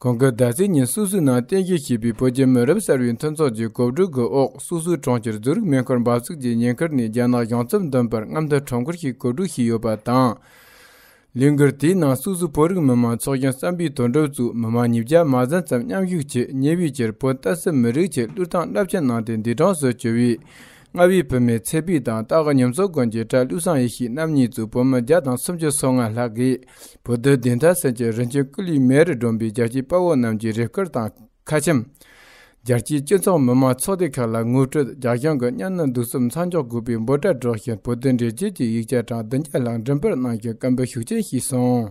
གོང་གི་ཟླ་ཚེས་ཉིན་སུད་སུའི་ནང་གཏན་འཁེལ་བྱས་པའི་བོད་རྒྱའི་མི་རབས་གསར་བའི་མཐུན་ཚོགས་ཀྱི་གོ་བསྡུར་གྱི་འོག་སུད་སུའི་གྲོང་ཁྱེར་ཛུ་རིག་མེ་འཁོར་འབབ་ཚུགས་ཀྱི་ཉེན་ཁར་ནས་རྒྱ་ནག་གཞུང་ཚབ་འདོན་པར་རྔམ་སྟོན་ཁྲོམ་སྐོར་ཞིག་གོ་སྒྲིག་བྱས་ཡོད་པ་དང། ལས་འགུལ་དེའི་ནང་སུད་སུ་བོད་རིགས་མི་དམངས་ཚོགས་ཆེན་བསམ་པའི་དོན་གྲུབ་བཙུགས་མི་དམངས་ཉིས་བརྒྱ་མ་ཟན་ཙམ་མཉམ་ཞུགས་བྱས་ཉེ་བའི་ཆར་བོད་ཏཱ་སི་མི་རིགས་ཆེད་བློས་བཏང་རླབས་ཆེན་གནང་སྟེ་འདས་གྲོངས་སུ་གྱུར་བའི་གནའ་བོའི་བོད་མིའི་ཚེ་སྤུས་དང་སྟག་སྒ་ཉམས་གསོ་དགོན་གྱི་གྲྭ་བསླུ་བཟང་ཡེ་ཤེས་རྣམ་གཉིས་གཙོས་བུ་མོ་བརྒྱ་དང་སུམ་ཅུ་སོ་ལྔ་ལྷག་གིས་བུ་རྡོལ་བདེ་མཐའ་སེང་ཆེན་རིན་ཆེན་སྐུ་ལུས་མེ་རུ་སྒྲོན་པའི་རྒྱལ་གཅེས་དཔའ་བོ་རྣམས་ཀྱི་རེ་སྐུལ་དང་ཁ་ཆེམས། རྒྱལ་གཅེས་སྤྱི་ཚོགས་མི་དམངས་ཚོགས་སྡེ་ཁག་ལ་ངོ་སྤྲོད་རྒྱ་གཞུང་གི་གཉའ་གནོན་གདུག་རྩུབ་མཚམས་འཇོག་དགོས་པའི་འབོད་སྒྲ་སྒྲོག་བཞིན་བུ་རྡོལ་འདྲེན་བྱེད་ཀྱི་ཡིག་ཆ་གྲངས་བདུན་བརྒྱ་ལྷག་འགྲེམས་སྤེལ་གནང་ཞིང་བཀའ་འབོད་ཤུགས་ཆེན་ཞུས་སོང།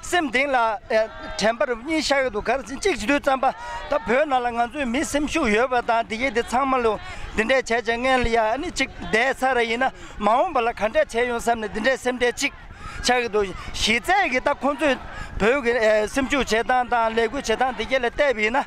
སེམས་གདེང་ལ། དྲན་པར་གཉིས་ཤར་འདུག་གར་ཟིན་གཅིག་བསྡུས་བརྩམས་པ། ད་བོད་ནང་ལ་ང་ཚོའི་མི་སེམས་ཤུགས་ཡོད་པ་དང་དེ་གེ་དེ་ཚང་མ་ལོ། འདི་འདྲས་བྱས་བྱས་མངལ་ཡ་ནི་གཅིག་བསྡད་ས་ར་ཡིན་ན་མ་འོངས་པ་ལ་ག་འདྲས་བྱས་ཡོང་བསམ་ནས་འདི་འདྲས་སེམས་ཁྲལ་གཅིག་ཆགས་གི་འདུག་གཞི་རྩའི་གི་ད་ཁོང་ཚོས་བོད་གི་སེམས་ཤུགས་བྱེད་སྟངས་དང་ལས་འགུལ་བྱེད་སྟངས་དེ་གེ་ལ་བལྟས་པ་ཡིན་ན།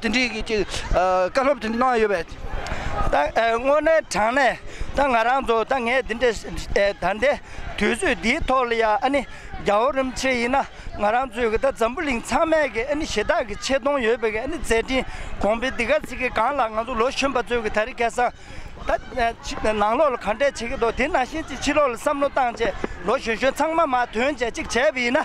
འདི་འདྲའི་གི་ཅིག་བཀའ་སློབ་དེ་གནང་ཡོད་པས། ད་དངོས་གནས་དྲང་ནས་ད་ང་རང་ཚོ་ད་ངས་འདི་འདྲའི་ད་ལྟའི་དུས་ཚོད་འདིའི་ཐོག་ལ་ཡང་ཨ་ནི་རྒྱ་བོད་རིམ་བྱེད་ཡིན་ན་ང་རང་ཚོའི་གི་ད་འཛམ་བུ་གླིང་ཚང་མས་གི་ཨ་ནི་ཞེ་དག་གི་ཆེ་མཐོང་ཡོད་པའི་གི་ཨ་ནི་མཛད་འཕྲིན་གོང་འཕེལ་འདི་ག་ཚིག་གི་སྒང་ལ་ང་ཚོ་ལོ་གཞོན་པ་ཚོའི་གི་ད་རི་སྐལ་བཟང་ད་ནང་ལོག་ལ་ག་འདྲས་བྱེད་ཀི་འདུག་དེ་ནང་བཞིན་ཅིག་ཕྱི་ལོག་ལ་བསམ་བློ་བཏང་རྗེས་ལོ་གཞོན་གཞོན་ཚང་མ་མ་དོན་བྱས་ཅིག་བྱས་པ་ཡིན་ན།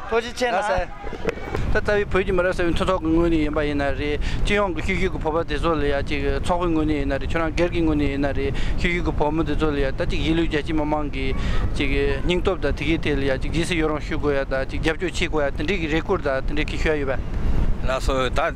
ཚོགས་སྤྱི་ཆེན་ལ་ཟེར། ད་ལྟ་བའི་བོད་ཀྱི་མི་རབས་གསར་བའི་མཐུན་ཚོགས་ཀྱི་དངོས་གནས་ཡིན་པ་ཡིན་ན་རེད། སྤྱི་ཡོངས་ཀྱི་ཤུལ་བཞུགས་ཀྱི་བོད་པ་དེ་ཚོ་ལ་ཡང་ཅིག་ཚོགས་པའི་དངོས་གནས་ཡིན་ན་རེད་ཁྱོད་རང་སྒེར་གྱི་དངོས་གནས་ཡིན་ན་རེད་ཤུལ་བཞུགས་ཀྱི་བོད་མི་དེ་ཚོ་ལ་ཡང་ད་ཅིག་གཞིས་ལུས་རྒྱལ་སྤྱིའི་མི་མང་གི་ཅིག་སྙིང་སྟོབས་དང་དེ་གའི་ཐད་ལ་ཡང་ཅིག་ཇི་སྲིད་ཡོད་རུང་ཞུ་དགོས་ཡ་དང་ཅིག་རྒྱབ་སྐྱོར་བྱེད་དགོས་ཡ་དེ་འདྲའི་གི་རེ་སྐུལ་དང་དེ་འདྲའི་གི་ཞུ་ཡ་ཡོད་པ། ལགས་སོ། ད།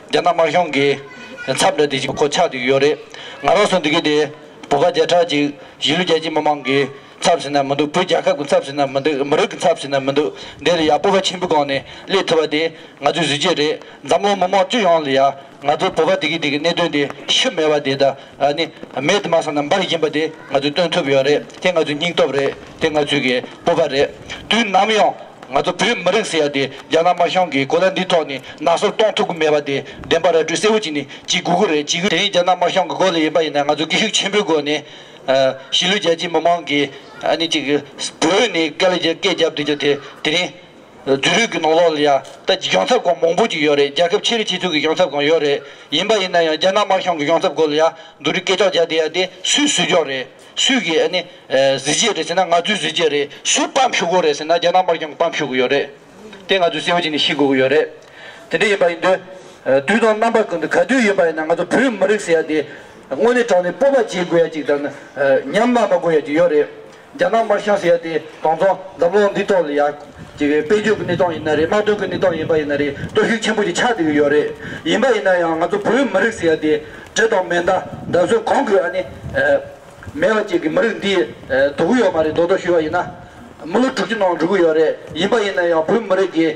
རྒྱ་ནག་དམར་གཞུང་གིས་མཚམས་འདྲ་དེ་ཞིག་གོ་ཆག་འདུག་ཡོད་རེད། ང་རོགས་སུ་འདུག་གི་དེ། བུ་ག་བརྒྱ་ཕྲག་ཅིག་གཞིས་ལུས་རྒྱལ་སྤྱིའི་མི་མང་གི་ཚབ་ཟེར་ན་མི་འདུག་བོད་རྒྱལ་ཁབ་ཀྱི་ཚབ་ཟེར་ན་མི་འདུག་མི་རིགས་ཀྱི་ཚབ་ཟེར་ན་མི་འདུག་འདི་ལ་ཡ་སྤོབས་པ་ཆེན་པོའི་སྒང་ནས་སླེབས་ཐུབ་པ་དེ་ང་ཚོའི་གཟི་བརྗིད་རེད་འཛམ་གླིང་མི་མང་སྤྱི་ཡོངས་ལ་ཡ་ང་ཚོའི་བོད་པ་དེ་གི་དེ་གི་གནད་དོན་དེ་ཤི་མེད་པ་དེ་ད་ཨ་ནི། མེད་དམག་ས་རྣམས་པར་ཡིན་པ་དེ་ང་ཚོས་སྟོན་ཐུབ་ཡོད་རེད་དེ་ང་ཚོའི་སྙིང་སྟོབས་རེད་དེ་ང་ཚོའི་གི་སྤོབས་པ་རེད་དུས་ནམ་ཡང་ང་ཚོ་བོད་མི་རིགས་ཟེར་ཡ་དེ་རྒྱ་ནག་དམར་གཞུང་གི་གོ་ལ་འདི་ཐོག་ནས་ནག་སོར་གཏོང་ཐུབ་གི་མེད་པ་དེ་བདེན་པ་ར་སྤྲོད་གསལ་བོ་གྱིས་ནི་གྱིས་དགོས་གི་རེད་དེ་ཡིན་རྒྱ་ནག་དམར་གཞུང་གི་སྒོ་ལ་ཡིན་པ་ཡིན་ན་ང་ཚོས་སྐད་ཤུགས་ཆེན་པོའི་སྒོ་ནས་གཞིས་ལུས་རྒྱལ་སྤྱིའི་མི་མང་གི་ཨ་ནི་ཅིག་བོད་ནས་སྐད་ལ་སྐད་རྒྱབ་དུས་ཀྱི་དེ་དེ་རིང་བོད་རིགས་ཀྱི་ནང་ལོགས་ལ་ཡང་ད་ཀྱི་གཞུང་ཚབ་ཁང་མང་པོ་ཅིག་ཡོད་རེད་རྒྱལ་ཁབ་ཕྱི་རིགས་སྤྱི་ཚོགས་ཀྱི་གཞུང་ཚབ་ཁང་ཡོད་རེད་ཡིན་པ་ཡིན་ན་ཡང་རྒྱ་ནག་དམར་གཞུང་གི་གཞུང་ཚབ་སྐོར་ལ་ཡང་འདུ་རིགས་སྐད་ཆ་བརྒྱག་བསྡད་ཡ་དེ་སུས་སུས་ཀྱང་རེད་སུས་ཀྱི་ཨ་ནི་གཟི་བརྗེད་རེད་ཟེར་ན་ང་ཚོའི་གཟི་བརྗེད་རེད་སུས་སྤམ་ཞུ་དགོས་རེད་ཟེར་ན་རྒྱ་ནག་དམར་གཞུང་གི་སྤམ་ཞུ་དགོས་ཡོད་རེད་དེ་ང་ཚོའི་སེམས་ཤིག་ནས་ཤི་དགོས་ཀྱི་ཡོད་རེད་དེ་འདྲ་ཡིན་པ་ཡིན་དུས་དུས་དང་རྣམ་པ་ཀུན་ཏུ་ག་དུས་ཡིན་པ་ཡིན་ན་ང་ཚོ་བོད་མི་རིགས་ཟེར་ཡ་དེ་དངོས་གནས་དྲང་ནས་སྤོབས་པ་བྱེད་དགོས་ཡ་ཅིག་དང་ནི་ཉམས་སྨྲ་མ་དགོས་ཡ་ཅིག་ཡོད་རེད་རྒྱ་ནག་དམར་ཤོག་ཟེར་ཡ་དེ་གང་ཚོང་འཛམ་གློག་འདི་ཐོག་ལ་ཡ་གི་དཔལ་འབྱོར་གི་གནས་སྟངས་ཡིན་ན་རེད་དམག་དོན་གི་གནས་སྟངས་ཡིན་པ་ཡིན་ན་རེད་སྟོབས་ཤུགས་ཆེན་པོ་ཞིག་ཆགས་འདུག་ཡོད་རེད་ཡིན་པ་ཡིན་ན་ཡང་ང་ཚོ་བོད་མི་རིགས་ཟེར་ཡ་དེ་དྲི་དང་མེ་མདའ་མདའ་གསོལ་གང་དགོས་ཨ་ནི་མེད་པ་བཅས་ཀྱི་མི་རིགས་འདི་དོར་གི་ཡོད་མ་རེད་མདོག་མདོག་ཞུས་པ་ཡིན་ན་མི་ལོ་དྲུག་ཅུ་ནང་འགྲོ་གི་ཡོད་རེད་ཡིན་པ་ཡིན་ན་ཡང་བོད་མི་རིགས་ཀྱི།